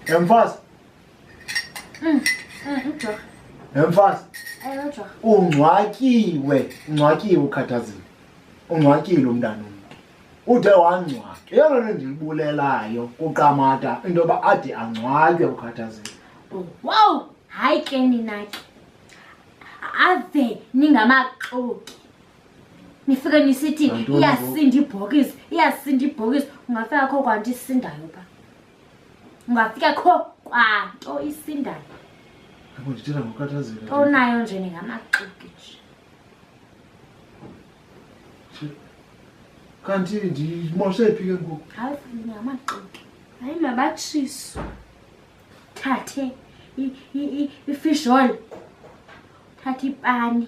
Emfazi. Mm, mm, ujorha. Emfazi. Ewe ujorha. Ungcwatyiwe, ungcwatyiwe ukhathazile. Ungcwatyile umntana omntu. Ude wangcwatywa. Yeyona nto endiyibulelayo kuQamata into yoba ade angcwatywe ukhathazile. Wow, hayi ke nina ke. Ave ningamaxoki. nifike nisithi iyasinda ibhokisi iyasinda ibhokisi ungafika kho kwanto isindayo pha ungafika kho kwanto isindayo onayo nje ningamaxiki nje kanti ndimoshe phi ke ngoku hayi ndingamaxiki hayi mabatshiso thathe ifishol thathe ipani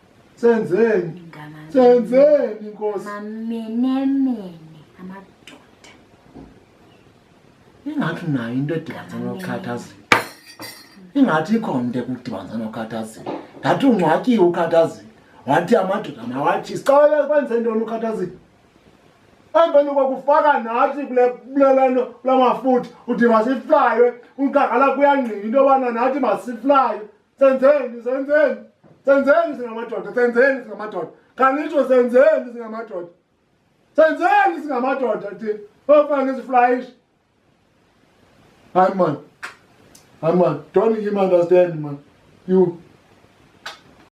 senzeni senzeni nkosi mamenemene amadoda ingathi nayo into edibanisa nokhathazela ingathi ikhona into ekudibanisa nokhathazela ngathi ungcwatyiwe ukhathazela wathi amadoda mawathi sicaweke kwenze ntoni ukhathazela emveni kokufaka nathi kuleleno kula mafutha uthi masiflaywe unkakala kuyangqina into yobana nathi masiflaywe senzeni senzeni senzeni singamadoda senzeni singamadoda kanitsho senzeni singamadoda senzeni singamadoda ti ofane ziflayishi hayi man hayi man don't him understand man you